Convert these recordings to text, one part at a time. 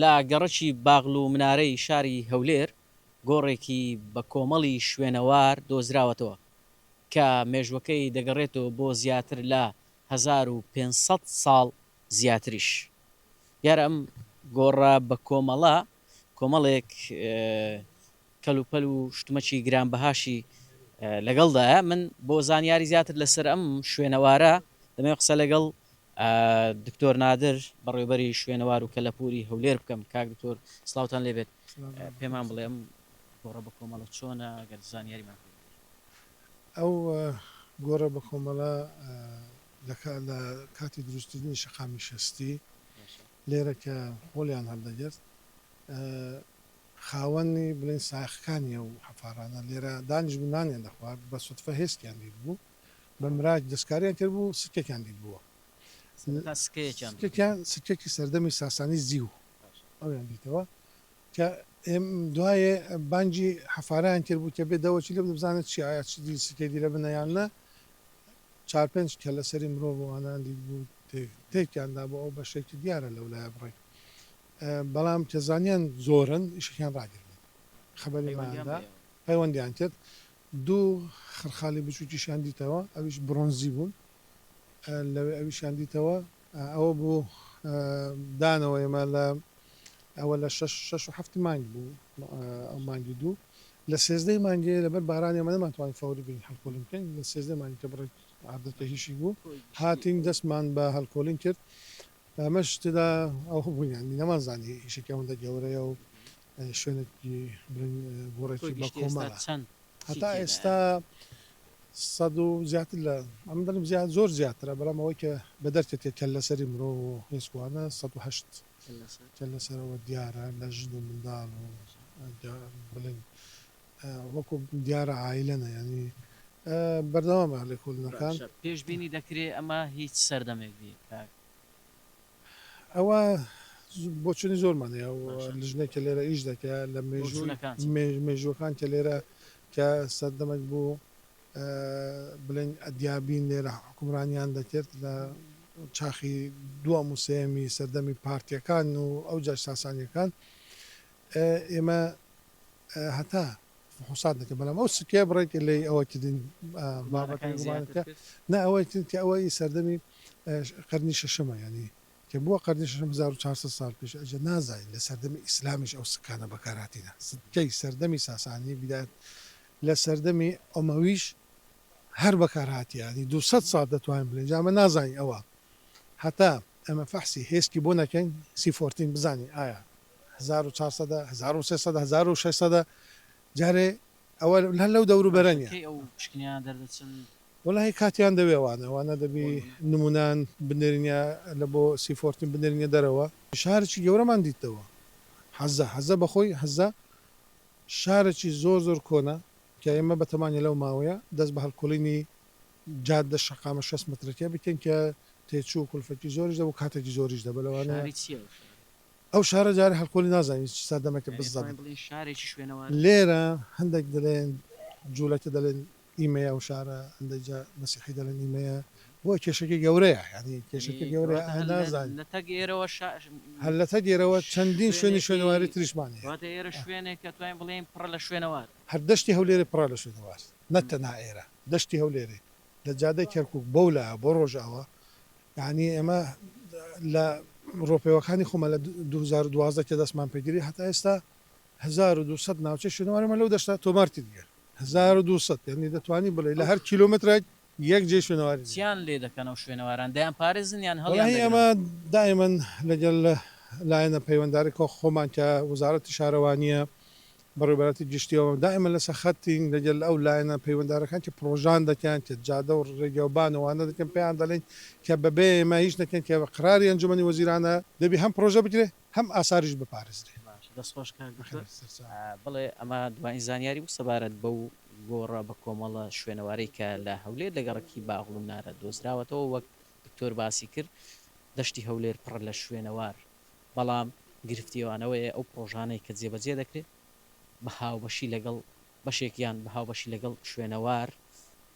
لە گەڕەکی باغل و منارەی شاری هەولێر گۆڕێکی بە کۆمەڵی شوێنەوار دۆزراوەتەوە کە مێژوەکەی دەگەڕێتەوە بۆ زیاتر لە هەزار و پێنج سەد ساڵ زیاتریش دیارە ئەم گۆڕە بە کۆمەڵە کۆمەڵێک کەلوپەل و شتومەکی گرانبەهاشی لەگەڵدایە، من بۆ زانیاری زیاتر لەسەر ئەم شوێنەوارە دەمەوێت قسە لەگەڵ دکتۆر نادر بەڕێوەبەری شوێنەوار و کەلەپووری هەولێر بکەم، کاک دکتۆر سڵاوتان لێ بێت پێمان بڵێ ئەم گۆڕە بەکۆمەڵە چۆنە گەر زانیاریمان پێ بدەی. ئەو گۆڕە بەکۆمەڵە لە کاتی دروستکردنی شەقامی شەستی لێرە کە هۆڵیان هەڵدەگرت، خاوەنی بڵێن سایەقەکانی ئەو حەفارانە لێرە دانیشتبوو نانیان دەخوارد، بە سوتفە هێسکیان دیتبوو، بە مراج دەستکاریان کردبوو، سکێکیان دیتبووە. سەرەتا سکەیەکیان دیتبوو. سکێکیان سکێکی سەردەمی ساسانی زیو ئەویان دیتەوە کە ئێم دوایێ بانگی حەفارەیان کردبوو کە بێ دەوەکی لێ بزانێت چیە ئایا چ دی سکەی دی لە بنە یان نە، چار پێنج کەلەسەری مرۆڤ و وانان دیتبوو، تێ تێکیان دابوو ئەو بەشەی کە دیارە لەولایە بڕی بەڵام کە زانیان زۆرن ئیشەکیان ڕاگرمان خەبەریماندا پەیوەندیان کرد دوو خڕخاڵی بچوکیشیان دیتەوە ئەویش برۆنزی بوون لەوێ ئەویشیان دیتەوە ئەوە بوو دانەوە ئێمە لە ئەوە لە شەش شەش و هەفتی مانگ بوو ئەو مانگی دوو لە سێزدەی مانگێ لەبەر بارانی ئەمە نەمانتوانی فەوری بین هەڵکۆلین بکەین لە سێزدە مانگی کە بڕێک عادەتە هیشی بوو هاتین دەستمان بە هەڵکۆلین کرد ئەمەش تێدا ئەوە بوو یانی نەمانزانی ئیشێکی ئەوەندە گەورەیە و شوێنێکی برنگ گۆڕێکی بە کۆمەڵە هەتا ئێستا سەد و زیاتر لە ئەم دەم زیاد زۆر زیاترە بەڵام ئەوەی کە بە دەرکەتێک کە لەسەری مرۆ و هێزکوانە 1970 کە لەسەرەوە دیارە لە ژن و منداڵ و بڵێن وەکو دیارە عایلەنە یانی بەردەوامە لێکۆلینەکان. پێش بینی دەکرێ ئەمە هیچ سەردەمێک بێ کاک. ئەوە بۆچونی زۆرمان هەیە و لژنەی کە لێرە ئیش دەکە لە مێژووی مێژووەکان کە لێرە کە سەردەمەک بوو بلێن ئەدیابین لێرە حکومرانیان دەکرد لە چاخی دووەم و سێمی سەردەمی پارتیەکان و ئەو جاش ساسانیەکان ئێمە هەتا حساب دەکە بەلام ئەو سکەیە بڕێک لەی ئەوە کردین بابەکان زیاتر نە ئەوەی تر کە ئەوەی سەردەمی قەرنی شەشەمە ینی کە بووە قەرنی شەشەم 1400 سال پیش ئەجە نازای لە سەردەمی ئیسلامیش ئەو سکانە بەکاراتینە سکەی سەردەمی ساسانی بدات لە سەردەمی ئۆمەویش هەر بەکارهاتیانی 200 سال دەتوانین بلێن جامە نازای ئەوە هەتا ئەمە فەحسی هێسکی بۆ نەکەین سیفۆرتین بزانین ئایا هەزار و چار سەدە هەزار و سێ سەدە هەزار و شەش سەدە جارێ ئەوە هەر لەو دەورو بەرە نیە. کەی ئەو پشکنینانە دەردەچن؟ وەلاهی کاتیان دەوێ وانە وانە دەبی نمونان بنێرینیە لە بۆ سی فۆرتین بنێرینیە دەرەوە. شارەکی گەورەمان دیتەوە حەزە حەزە بەخۆی حەزە شارەکی زۆر زۆر کۆنە کە ئێمە بەتەمانیە لەو ماوەیە دەست بە هەڵکۆڵینی جادە شەقامە شەست مەترەکیە بکەین کە تێچوو کولفەکی زۆریش دەبو کاتەکی زۆریش دەبە لەوانەیە ئەو شارە جارێ هەڵکۆلی نازانی چ سەردەمێکە بس دەڵێن لێرە هەندێک دەلێن جولەکە دەلێن ئیمەیە ئەو شارە هەندێک جا مەسیحی دەلێن ئیمەیە بۆ کێشەکەی گەورەیە یانی کێشەکەی گەورەیە ئەهە نازانی هەر لە تەگێرەوە چەندین شوێنی شوێنەواری تریشمان هەیە هەر دەشتی هەولێرێ پڕە لە شوێنەوار نەک تەنها ئێرە دەشتی هەولێرێ لە جادەی کەرکوک بەو لایە بۆ ڕۆژئاوا یانی ئێمە لە ڕۆپێوەکانی خۆمە لە دوو هەزار و دوازدە کە دەستمان پێ گری هەتا ئێستا هەزار و دوو سەد ناوچەی شوێنەواری مە لەو دەشتا تۆمار کردیە هەزار و دوو سەد یانی دەتوانی بڵێی لە هەر کیلۆمەترێک یەک جێی شوێنەواری نیە. چیان لێ دەکەن ئەو شوێنەواران دەیانپارێزن یان هەڵیان وەڵاهی ئێمە دەگرن؟ دایمەن لەگەل لایەنە پەیوەندارەکەوە خۆمان کە وەزارەتی شارەوانیە بەڕێوەبەرایەتی گشتییەوە دائیمەن لەسەر خەتین لەگەل ئەو لایەنە پەیوەندارەکان کە پرۆژان دەکەن کە جادە و رێگە و بان و وانە دەکەن پێیان دەلێین کە بەبێ ئێمە هیچ نەکەن کە قەراری ئەنجومەنی وەزیرانە دەبی هەم پرۆژە بکرێ هەم ئاساریش بپارێزرێ. باشە دەست خۆش کاک دکتۆر. بڵێ ئەمە دوایین زانیاری بوو سەبارەت بەو گۆڕە بە کۆمەڵە شوێنەوارەی کە لە هەولێر لە گەڕەکی باغڵ و نارە دۆزراوەتەوە وەک دکتۆر باسی کرد دەشتی هەولێر پڕە لە شوێنەوار بەڵام گرفتی ئەوان ئەوەیە ئەو پڕۆژانەی کە جێبەجێ دەکرێت بە هاوبەشی لەگەڵ بەشێکیان بە هاوبەشی لەگەڵ شوێنەوار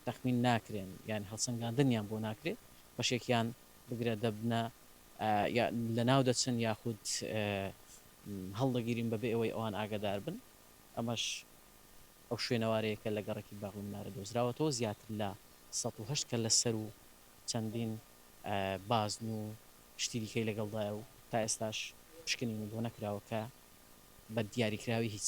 تەخمین ناکرێن یان هەڵسەنگاندنیان بۆ ناکرێت بەشێکیان بگرە دەبنە یا لەناو دەچن یاخود هەڵدەگیرین بەبێ ئەوەی ئەوان ئاگادار بن ئەمەش ئەو شوێنەوارەیە کە لە گەڕەکی باغ و منارە دۆزراوەتەوە زیاتر لە سەد و هەشت کەللە سەر و چەندین بازن و شتی دیکەی لەگەڵدایە و تا ئێستاش پشکنینی بۆ نەکراوە کە بە دیاریکراوی هیچ.